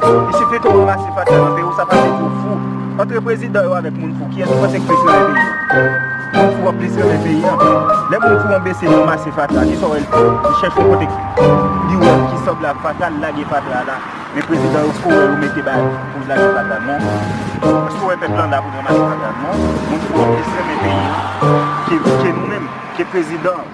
Li sifi ke w ranmase faktè nan peyi w, sa pa vle di w fou. Antre prezidan yo avèk moun fou, kiyès ou panse k plis renmen peyi an? Moun fou an plis renmen peyi an. Lè moun fou an bese li ranmase fatra, ki sa w wè l fè? Li chèche yon kote li wè ki sanble ak fatra, li lage fatra la. Men prezidan yo, èske w wè yo mete bay pou l lage fatra? Non. Èske w wè pèp lan la pou l ranmase fatra? Non. Moun fou an plis renmen peyi an ke nou menm, ke prezidan an.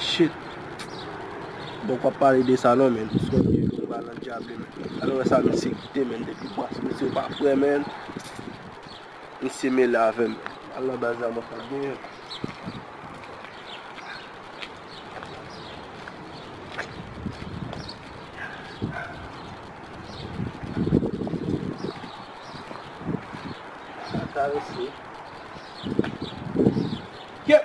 Shit Bon pap pale de sa non menn Son vye vye pa nan djab li menn Alewè sa misye kite menn depi bas Misye pa fre menn Misye mele avèm menn Al nan baz la mwen pral genyen l Sa karese Kep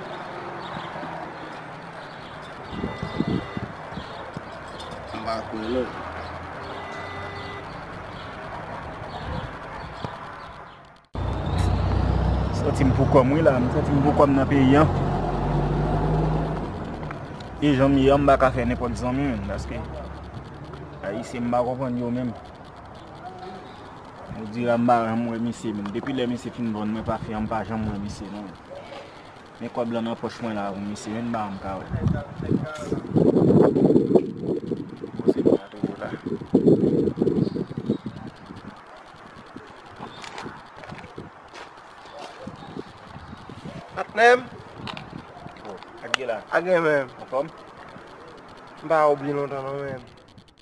Santi m pou kòm wi la, m santi m pou kòm nan peyi an E jan m ye an m baka fè nenpòt zanmi menm Paske Ayisyen m pa konprann yo menm Odira m pa janm wè misye menm Depi lè misye fin vann mwen pafi an m pa janm wè misye non Men kob lan nan poch mwen la wi mesye vin banm ka wè. Patnèm Ak gen menm Anfòm M pa wè w byen lontan non menm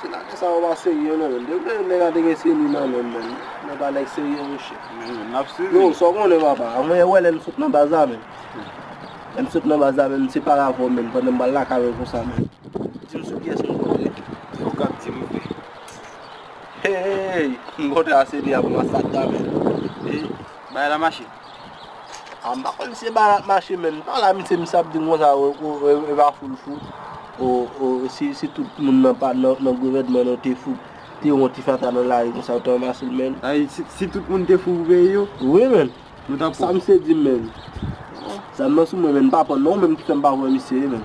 Se nan lè sa ou pa serye non menn. Depi lè nèg a te gen seni nan menl menn. Nèg pa nèg serye mon chè. Nap swiv li. Yo sa ou konnen papa. Mwen ye wè lè nou sot nan baz la menn. Lè nou sot nan baz la menn se pale avè ou menn pandan m pral lakay ou konsa menn. Dim sou kiyès nou kontre. Se ou kap dim vre. Hey! M kontre a seni a pou masakre a menn. Bagay la mache. Ah m pa konn si e ba la ap mache menm. M pa la misye misye ap di m konsa o e pa foul fou o si tout moun nan pa nan gouvènman nan te fou te wè yon ti fatra nan lari konsa yo te ranmase l menn. Sa vle di si tout moun te fou pou peyi yo. Wi menn. Nou tap wè. Sa misye di m menn. Zam nan sou mwen menn m pa pran non menm ki fè m pa wè misye menn.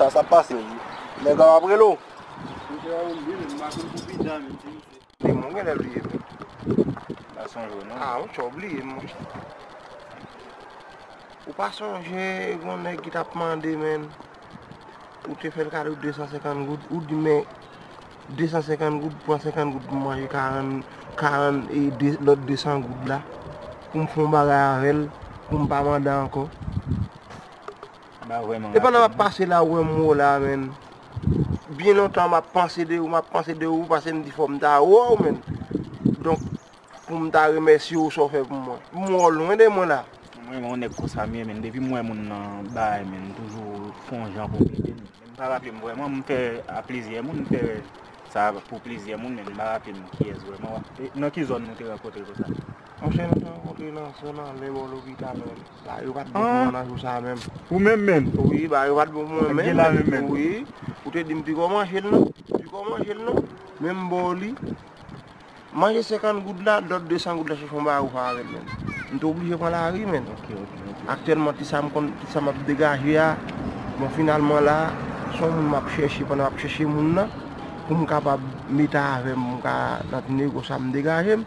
Sa sa pase ui. Neg la ap rele w. Neg mwen genle bliye m wi. Pa sonje w non. Ah ou tjou bliye m monche. Ou pa sonje yon neg ki tap mande men. Ou te fel kado 250 goud. Ou di men 250 goud pran 50 goud pou manje 40 40 e lot 200 goud la. Pou m fon bagay avel. Pou m pa mande anko. E pandan map pase la ou wè m ou la menn Byen lontan map panse de ou map panse de ou Pase m di fòm ta wè ou menn Donk pou m ta remèsye ou sa ou fè pou mwen M wè ou lwen de mwen la M renmen yon nèg konsa m ye menn Depi m wè moun nan bagay menn m toujou fon jan pou m ede l M pa raple m vrèman m fè a plizyè moun m fè sa pou plizyè moun menn m pa raple m kiyès vrèman Nan ki zòn nou te rankontre konsa? Monchè nou te rankontre nan zòn anlè bò lopital la Ba yo pat bon pou mwen nan jou sa menm. Ou menm menm? Wi ba yo pat bon pou mwen menm. Wi. Ou te di m piko manje l non. Piko manje l non. Men m ba w li. Manje 50 goud la, lòt 200 goud la chèche yon bawo fè avè l menm. M te oblije pran lari menm. Ok, ok. Aktyèlman ti sa m konn, ti sa m ap degaje a, bon finalman la, se yon moun m ap chèche pandan m ap chèche moun nan pou m kapab mete avè m pou m ka nan ti nego sa m degaje m.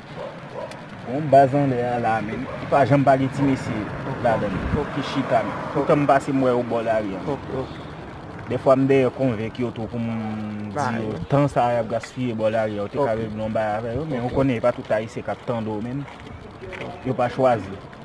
Bon baz anlè a la menn. Li pa janm pa gen ti mesye ladan li. Ki chita menn. Toutan m pase m wè yo bò lari a menn. Dèfwa m dèyè konvenk yo tou pou m di yo tan sa a y ap gaspiye bò lari a ou te ka regle yon bagay avè yo. Men ou konnen e pa tout Ayisyen k ap tande w menn. Yo pa chwazi.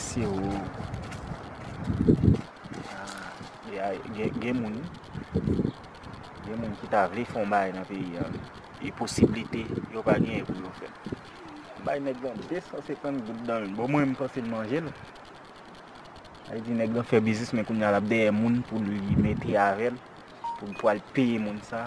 Se ou Gen moun Gen moun ki ta vle fon bay nan peyi a E posiblite yo pa gen pou yo fè Bay nèg lan 250 goud nan men Bon mwen m panse l manje l Sa vle di nèg lan fè biznis men kounya l ap dèyè moun pou li mete avè l Pou l pwal peye moun sa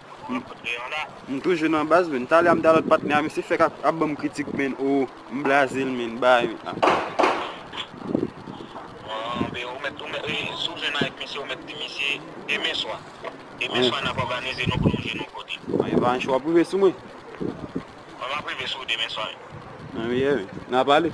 M toujou nan baz menn. Talè a m te a lòt patnè a misye fèk ap banm kritik menn oo. M blaze l menn baay menn la. Evancho wap rive sou mwen. Nan pale.